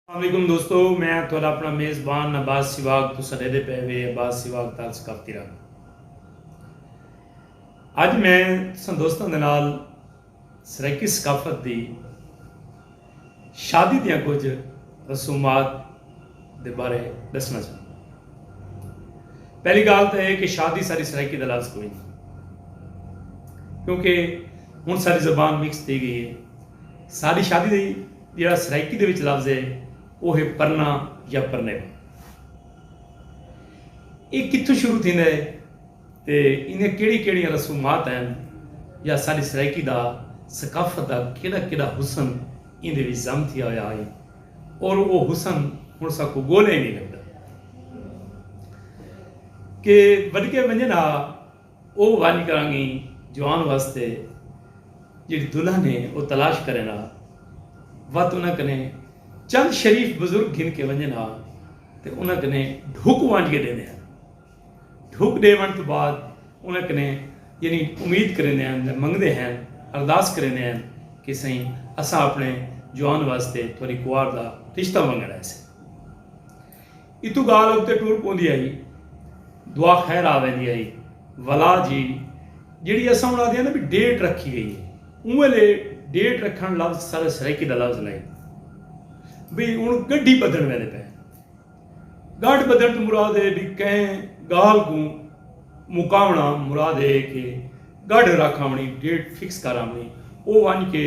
السلام علیکم دوستو میں ہاں تہاڈا اپنا میزبان عباس سیواگ تساں ڈیدھے پئے وے عباس سیواگ تال ثقافتی رنگ اج میں تساں دوستاں دے نال سرائیکی ثقافت دی شادی دیاں کچھ رسومات دے بارے دسنا چاہوں پہلی گال تو یہ کہ شادی ساری سرائیکی دا لفظ کوئی نہیں کیونکہ ہن ساری زبان مکس تھی گئی ہے ساری شادی دی جیڑھا سرائیکی دے وچ لفظ ہے او ہے پرنا یا پرنیو۔ ایہ کتھوں شروع تھیندا ہے تے ایندیاں کیڑھی کیڑھیاں رسومات ہن یا ساݙی سرائیکی دا ثقافت دا کیݙا کیݙا حسن ایندے وچ ضم تھیا ہویا ہئی اور او حسن ہݨ ساکوں ڳولیا ہی نئیں لبھدا کہ وݙکے ونڄن ہا۔ او ونڄ کرانگی جوان واسطے جیڑھی دلہن ہے او تلاش کرین ہا۔ وت انہاں کنے چند شریف بزرگ گھن کے ونڄن ہا تے انہاں کنے ڈھک ونج کے ڈیندے ہن۔ ڈھک ڈے ونج توں بعد انہاں کنے یعنی امید کریندے ہن یا منگدے ہن، ارداس کریندے ہن کہ سئیں اساں اپنے جوان واسطے تہاڈی کوار دا رشتہ منگن آئے سے۔ اتو گالھ اگتے ٹر پوندی ہئی۔ دعا خیر آ ویندی ہئی۔ ولا جی جیڑھی اساں ہن آدھیاں نا بی ڈیٹ رکھی گئی ہے اوں ویلے ڈیٹ رکھن لفظ سارے سرائیکی دا لفظ نئیں بی ہن گڈھی بدھن ویندے پئے ہیں۔ گڈھ بدھن توں مراد ہے بی کہیں گالھ کوں مکاونڑاں مراد ہے کہ گڈھ رکھ آونڑی ڈیٹ فکس کر آونڑی او ونج کے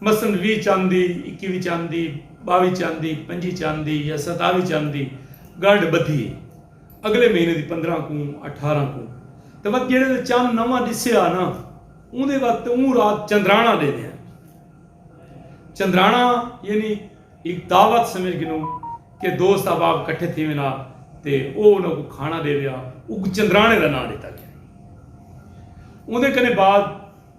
مثلا ویہہ چن دی، اکیوی چن دی، ٻاوی چن دی، پنجی چن دی یا ستاوی چن دی ڳنڈھ ٻدھی ہے اڳلے مہینے دی پندرہ کوں، اٹھارہ کوں تے وت جیڑھے دے چن نواں ݙسیا نا اوندے وت تے اوں رات چندراݨا ݙیندے ہن۔ چندراݨا یعنی ہک دعوت سمجھ گھنو کہ دوست احباب کٹھے تھیویں نا تے او انہاں کوں کھاݨا ݙیوے ہا اوں کوں چندراݨے دا ناں ݙتا ڳیا۔ اوندے کنے بعد۔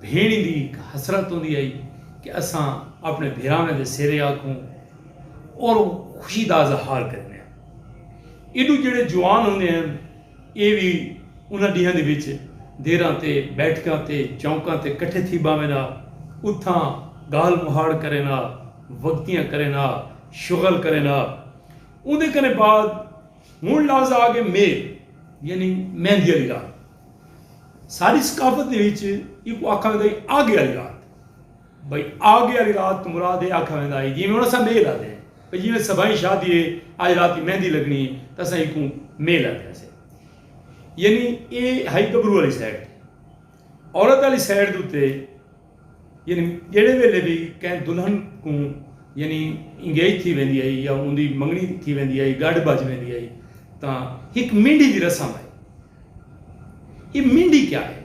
بھیݨیں دی ہک حسرت ہوندی ہئی کہ اساں اپݨے بھراویں دے سیرے آکھوں اور خوشی دا اظہار کریندے ہن۔ ایݙوں جیڑھے جوان ہوندے ہن ایہ وی انہاں ݙینہاں دے وچ دیراں تے بیٹھکاں تے چونکاں تے کٹھے تھی ٻاہوین ہا اتھاں ڳالھ مہاڑ کرین ہا وگتیاں کرین ہا شغل کرین ہا اوندے کنے بعد ہݨ لفظ آ ڳئے میل یعنی مہندی آلی رات۔ ساݙی ثقافت دے وچ ایکوں آکھا ویندا ہے آگے والی رات بھئی آگے والی رات توں مراد ہے آکھا ویندا ہے جیویں ہݨ اساں میل آندے ہیں بھئی جیویں سبھائیں شادی ہے اڄ راتی مہندی لڳݨی ہے تاں اساں ایکوں میل آندے ہاں سے یعنی ایہ ہئی گبرو والی سائیڈ عورت والی سائیڈ دے اتے یعنی جیڑھے ویلے وی کہیں دلہن کوں یعنی انگیج تھی ویندی ہئی یا اوندی منگنی تھی ویندی ہئی گڈھ بج ویندی ہئی تاں ہک مینڈھی دی رسم ہئی اے مینڈھی کیا ہے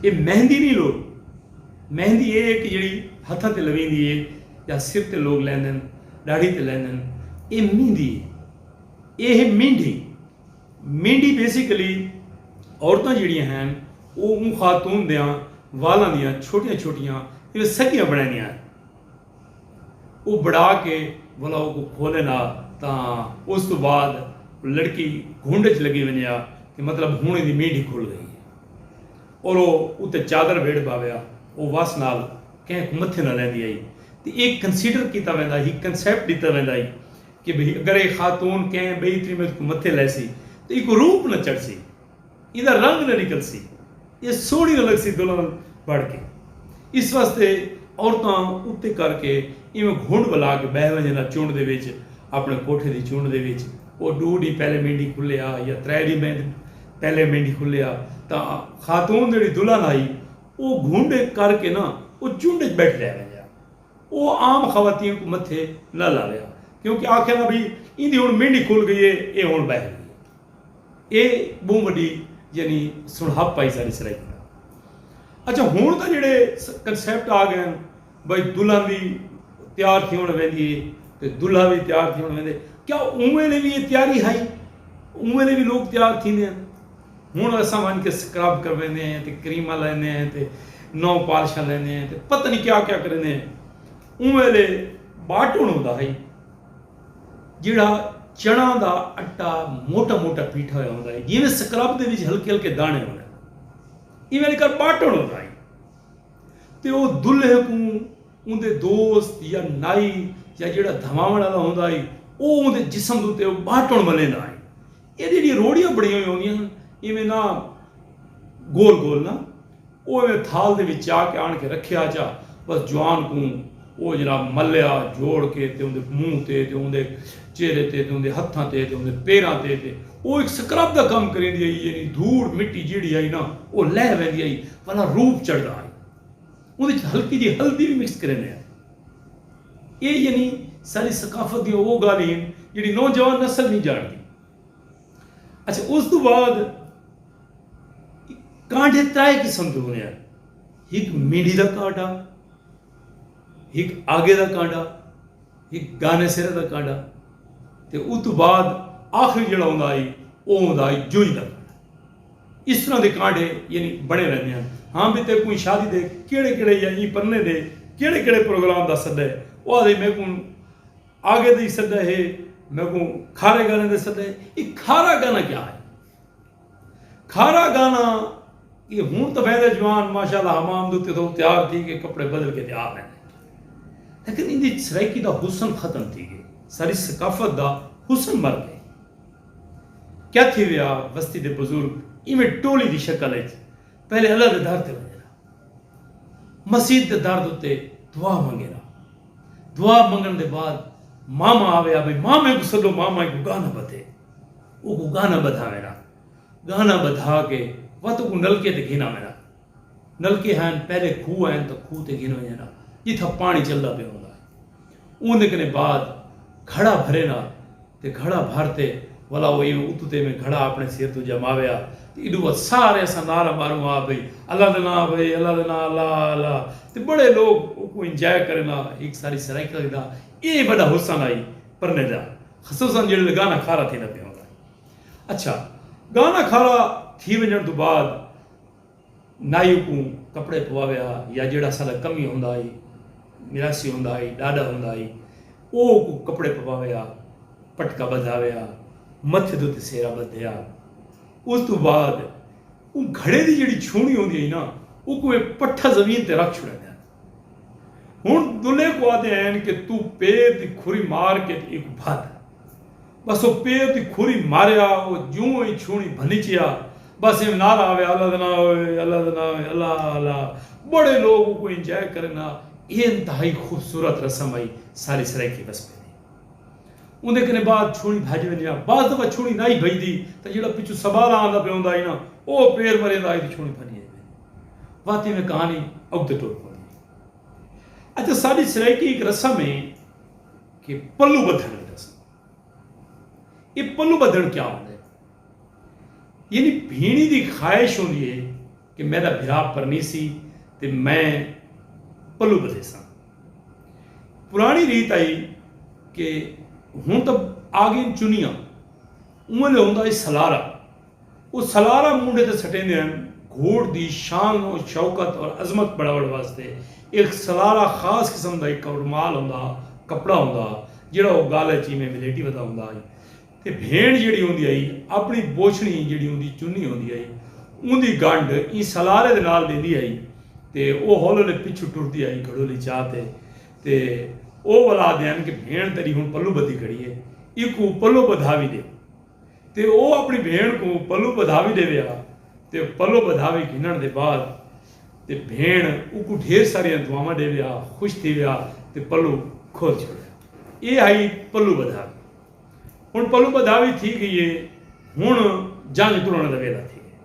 اے مہندی نہیں لوگ مہندی اے ہے کہ جیڑی ہتھاں تے لویندی ہے یا سر تے لوگ لیندن ڈاڑھی تے لیندن اے مہندی ہے اے ہے مینڈھی مینڈی بیسیکلی عورتاں جیڑھیاں ہن او اوں خاتون دیاں والاں دیاں چھوٹیاں چھوٹیاں جیویں سڳیاں بݨیندیاں ہن او بݨا کے ولا اوکوں کھولن آ تاں اس توں بعد لڑکی گھنڈ اچ لڳی ونڄے آ کہ مطلب ہݨ ایندی مینڈی کھل ڳئی ہے اور او اتے چادر ویڑھ پاوے آ او وس نال کہیں کوں متھے نہ لیندی ہئی تے اے کنسیڈر کیتا ویندا ہی کنسیپٹ ݙتا ویندا ہی کہ بھئی اگر اے خاتون کہیں بئی تریمت کوں متھے لائسی تاں ایکوں روپ نہ چڑھسی، ایندا رنگ نہ نکلسی، اے سوہنڑی نہ لگسی دلہن بنڑ کے۔ اس واسطے عورتاں اتے کر کے ایویں گھنڈ ولا کے بہہ ونجن نا چنڈ دے وچ اپنڑے کوٹھے دی چنڈ دے وچ او ڈو ڈینھ پہلے مینڈھی کھلے آ یا ترے ڈینھ مہندے پہلے مینڈھی کھلے آ تاں خاتون جیہڑی دلہن ہائی او گھنڈ کر کے نا او چنڈ اچ بیٹھی رہ ونجے آ۔ او عام خواتین کوں متھے نہ لاویا کیونکہ آکھیا دا بھئی ایندی ہنڑ مینڈی کھل گئی اے اے ہنڑ بہہ گئی اے اے بہوں وڈی یعنی سنڑھپ آئی ساڈے سرائیکی دا اچھا ہنڑ تاں جیڑے کنسپٹ آ گئن بھئی دلہن دی تیار تھیونڑ ویندی اے تے دلہا وی تیار تھیونڑ ویندے کیا اوں ویلے وی اے تیاری ہائی اوں ویلے وی لوگ تیار تھیندے ہن ہݨ اساں ونڄ کے سکرب کرویندے ہیں تے کریماں لیندے ہیں تے نو پالشاں لیندے ہیں تے پتہ نی کیا کیا کریندے ہیں اوں ویلے ٻاٹݨ ہوندا ہئی جیڑھا چݨاں دا اٹا موٹا موٹا پیٹھا ہویا ہوندا ہئی جیویں سکرب دے وچ ہلکے ہلکے داݨے ہوندن ایویں لے کر ٻاٹݨ ہوندا ہئی تے او دلہے کوں اوندے دوست یا نائی یا جیڑھا دھواوݨ والا ہوندا ہئی او اوندے جسم دے اتے او ٻاٹݨ ملیندا ہئی ایہ جیڑھیاں روڑیاں بݨیاں ہوئیاں ہوندیاں ہن ایویں نہ گول گول نہ او ایویں تھال دے وچ چا کے آن کے رکھیا چا بس جوان کوں او جناب ملیا جوڑ کے تے اوندے منہ تے تے اوندے چہرے تے تے اوندے ہتھاں تے تے اوندے پیراں تے تے او ایک سکرب دا کم کریندی ہئی یعنی دھوڑ مٹی جیڑھی ہئی نا او لہہ ویندی ہئی پھلا روپ چڑھدا ہئی اوندے وچ ہلکی جی ہلدی وی مکس کریندے ہن۔ ایہ یعنی ساݙی ثقافت دیاں او ڳالھیں ہن جیڑھی نوجوان نسل نی ڄاݨدی۔ اچھا اس توں بعد کانڈھے ترائے قسم دے ہوندے ہن۔ ہک مینڈھی دا کانڈھا، ہک آگے دا کانڈھا، ہک گانے سرے دا کانڈھا تے اتوں بعد آخری جیڑھا ہوندا ہئی او ہوندا ہئی جوئی دا کانڈھا۔ اس طرح دے کانڈھے یعنی بنے رہندے ہن۔ ہاں بھئی تیکوں ایں شادی دے کیڑھے کیڑھے یا ایں پرنے دے کیڑھے کیڑھے پروگرام دا سدہ ہے۔ او آہدے میکوں آگے دے ای سدہ ہے، میکوں کھارے گانے دے سدہ ہے۔ اے کھارا گانا کیا ہے؟ کھارا گانا اے ہن تاں ویندے جوان ماشاءاللہ حمام دے اتے تھو تیار تھی کے کپڑے بدل کے تے آ ویندے۔ لیکن ایندی سرائیکی دا حسن ختم تھی گئے۔ ساری ثقافت دا حسن مر گئے۔ کیا تھی ویا وستی دے بزرگ ایویں ٹولی دی شکل اچ پہلے اللہ دے در تے ونجن ہا۔ مسیت دے در دے اتے دعا منگن ہا۔ دعا منگن دے بعد ماما آوے ہا بھئی مامے کوں سدو ماما ایکوں گانا بدھے۔ اوکوں گانا بدھاون ہا۔ گانا بدھا کے وت اوکوں نلکے تے گھن آون ہا۔ نلکے ہین پہلے کھوہ ہین تاں کھوہ تے گھن ونجے نا جتھاں پانی چلدا پیا ہوندا ہے اوندے کنے بعد گھڑا بھرے نا تے گھڑا بھر تے ولا او ایویں اتو تے ایویں گھڑا اپنے سر توں جماوے آ تے ایڈو بعد سارے اساں نعرہ ماروں آ بھئی اللہ دے ناں بھئی اللہ دے ناں الا الا تے بڑے لوگ اوکوں انجوائے کرے نا ہک ساری سرائیکاں کیتا اے وڈا حسن ہئی پرنے دا خصوصا جیڑھے لے گانا کھارا تھیندا پیا ہوندا ہے اچھا گانا کھارا تھی ونجن توں بعد نائی اکوں کپڑے پواوے ہا یا جیڑھا اساڈا کمی ہوندا ہئی میراثی ہوندا ہئی ڈاڈا ہوندا ہئی او اکوں کپڑے پواوے ہا پٹکا بدھاوے ہا متھے دے اتے سہرا بدھے ہا اس توں بعد اوں گھڑے دی جیڑھی چھونڑی ہوندی ہئی نا اکوں اے پٹھا زمین تے رکھ چھوڑیندے ہن۔ ہن دلے کوں آدھے ہین کہ توں پیر دی کھری مار کے تے اینکوں بھد۔ بس او پیر دی کھری ماریا او جوں ای چھوڑیں بھنچیا بس ایویں نعرہ آوے اللہ دا ناں ہوئے اللہ دا ناں ہوئے اللہ اللہ بڑے لوگ اوکوں انجوائے کرن ہا اے انتہائی خوبصورت رسم ہئی ساری سرائیکی وس پے دی اوندے کنے بعد چھوڑیں بھج ویندی ہا بعض دفعہ چھوڑیں نائی بھجدی تاں جیڑھا پچھوں سبالا آندا پیا ہوندا ہئی نا او پیر مریندا ہئی تے چھوڑیں بھنی ہئی ویندی۔ واہ تیویں کہانی اگتے ٹر پوندی ہے۔ اچھا ساڈی سرائیکی ہک رسم ہے کہ پلو بدھن آلی رسم۔ اے پلو بدھن کیا ہوندے ہے؟ یعنی بھینڑی دی خواہش ہوندی ہے کہ میڈا بھرا پرنیسی تے میں پلو بدھیساں۔ پرانی ریت آئی کہ ہن تاں آگئین چنیاں اوں ویلے ہوندا ہئی سلارا او سلارا مونڈھے تے سٹیندے ہن۔ گھوڑ دی شان و شوکت اور عظمت بڑھاوݨ واسطے اک سلارا خاص قسم دا اک رومال ہوندا ہا، کپڑا ہوندا ہا، جیڑھا او ڳالہ اچ ایویں ولیٹی ودا ہوندا ہئی تے بھیݨ جیڑھی ہوندی ہئی اپݨی بوچھݨی جیڑھی اوندی چنی ہوندی ہئی اوندی ڳنڈھ ایں سلارے دے نال ݙیندی ہئی تے او ہولے ہولے پچھوں ٹردی ہئی گھڑولی چا تے تے او ولا آہدے ہن کہ بھیݨ تیݙی ہݨ پلو ٻدھی کھڑی ہے ایکوں پلو ٻدھاوی ݙے۔ تے او اپݨی بھیݨ کوں پلو ٻدھاوی ݙیوے ہا تے پلو ٻدھاوی گھنݨ دے بعد تے بھیݨ اوکوں ڈھیر ساریاں دعاواں ݙیوے ہا خوش تھیوے ہا تے پلو کھول چھوڑے ہا ایہ ہئی پلو ٻدھاوی ہݨ پلو ٻدھاوی تھی ڳئی ہے ہݨ جنگ ترݨ دا ویلا تھی ڳئے۔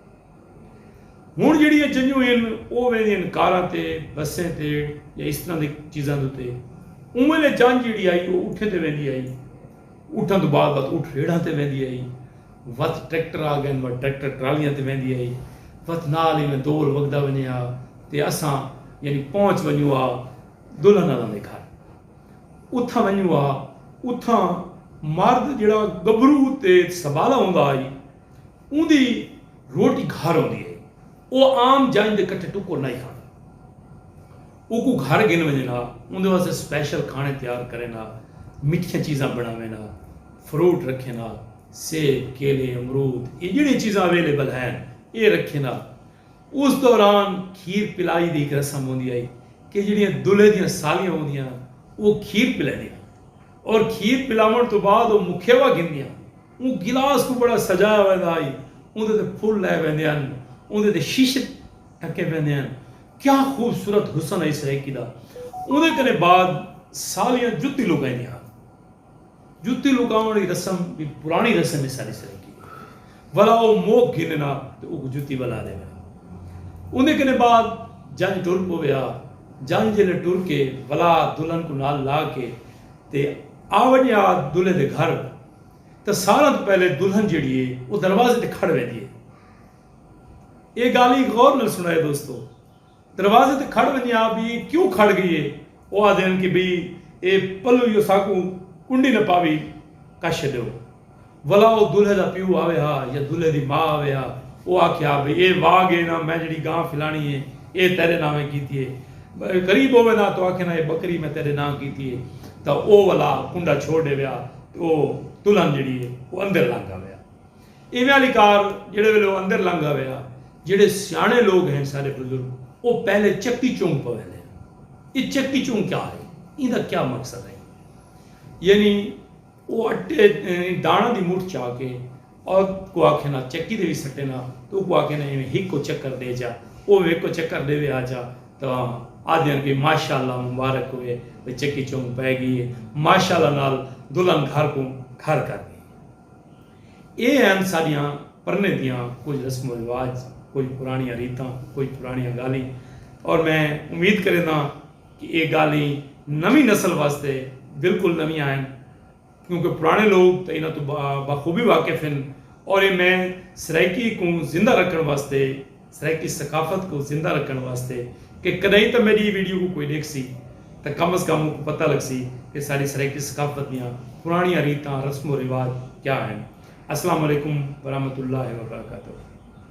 ہݨ جیڑھیاں چنجوں ہن او ویندیاں ہن کاراں تے، بسیں تے یا اس طرح دی چیزاں دے اتے۔ اوں ویلے چنج جیڑھی ہئی او اٹھیں تے ویندی ہئی۔ اٹھاں توں بعد وت اٹھ ریڑھاں تے ویندی ہئی۔ وت ٹریکٹر آ گئن وت ٹریکٹر ٹرالیاں تے ویندی ہئی۔ وت نال ایویں دور وڳدا ونڄے ہا تے اساں یعنی پہنچ ونڄوں ہا دلہن آلاں دے گھر۔ اتھاں ونڄوں ہا اتھاں مرد جیڑھا ڳبھرو تے سٻالا ہوندا ہئی۔ اوندی روٹی گھر ہوندی ہئی۔ او عام جنج دے کٹھے ٹکر نئیں کھاندا۔ اوکوں گھر گھن ونجن ہا۔ اوندے واسطے سپیشل کھانے تیار کرن ہا۔ مٹھیاں چیزاں بنڑاون ہا۔ فروٹ رکھن ہا۔ سیب، کیلے، امرود اے جیہڑیاں چیزاں اویلیبل ہن اے رکھن ہا۔ اس دوران کھیر پلائی دی ہک رسم ہوندی ہئی کہ جیہڑیاں دلہے دیاں سالیاں ہوندیاں ہن او کھیر پلیندیاں ہن اور کھیر پلاونڑ توں بعد او مکھیوا گھندیاں ہن۔ اوں گلاس کوں بڑا سجایا ویندا ہئی۔ اوندے تے پھل لائے ویندے ہن۔ اوندے تے شیشے ڈھکے ویندے ہن۔ کیا خوبصورت حسن ہئی سرائیکی دا۔ اوندے کنے بعد سالیاں جتی لکائیندیاں ہن۔ جتی لکاوݨ آلی رسم وی پراݨی رسم ہے ساݙی سرائیکی دی۔ ولا او موک گھن نا تے اوکوں جتی ولا ݙیوے ہا۔ اوندے کنے بعد جنج ٹر پووے ہا۔ جنج جیلے ٹر کے ولا دلہن کوں نال لا کے تے آوݨیا دلہے دے گھر۔ تاں ساراں توں پہلے دلہن جیڑھی اے او دروازے تے کھڑ ویندی اے۔ اے گالھیں غور نال سنڑائے دوستو۔ دروازے تے کھڑ ویندیاں آ بھئی اے کیوں کھڑ گئی اے۔ او آہدے ہن کہ بھئی اے پلو یو ساکوں کنڈی نہ پاوی کش چھڈیو۔ ولا او دلہے دا پیو آوے ہا یا دلہے دی ماء آوے ہا او آکھے ہا بھئی اے واگ اے ناں میں جیڑھی گاں پھلانی اے اے تیڈے ناویں کیتی اے۔ غریب ہووے ناں توں آکھے ناں اے بکری میں تیڈے ناں کیتی اے تاں او ولا کنڈا چھوڑ ڈیوے ہا۔ او دلہن جیڑھی ہے او اندر لنگھ آویا۔ ایویں آلی کار جیڑھے ویلے او اندر لنگھ آویا جیڑھے سیاݨے لوگ ہن سارے بزرگ او پہلے چکی چنگ پویندے ہن۔ اے چکی چنگ کیا ہے؟ ایندا کیا مقصد ہے؟ یعنی او اٹے دانڑاں دی مٹھ چا کے اک کوں آکھے نا چکی دے وی سٹے نا تے اکوں آکھے نا ایویں ہکو چکر دے جا او وی ہکو چکر ڈیوے آ جا تاں آدھیاں کہ ماشاءاللہ مبارک ہووے بھئی چکی چنگ پے گئی اے ماشاءاللہ نال دلہن گھر کوں کھر کر گئی اے ہن ساڈیاں پرنے دیاں کجھ رسم و رواج کجھ پرانیاں ریتاں کجھ پرانیاں گالھیں اور میں امید کرینداں کہ اے گالھیں نویں نسل واسطے بالکل نویاں ہن۔ کیونکہ پراݨے لوک تاں انہاں توں بخوبی واقف ہن اور اے میں سرائیکی کوں زندہ رکھݨ واسطے سرائیکی ثقافت کوں زندہ رکھݨ واسطے کہ کݙائیں تاں میݙی ایں ویڈیو کوں کوئی ݙیکھسی تاں کم از کم اونکوں پتہ لڳسی کہ ساݙی سرائیکی ثقافت دیاں پراݨیاں ریتاں رسم و رواج کیا ہن۔ السلام علیکم ورحمۃ اللہ وبرکاتہ۔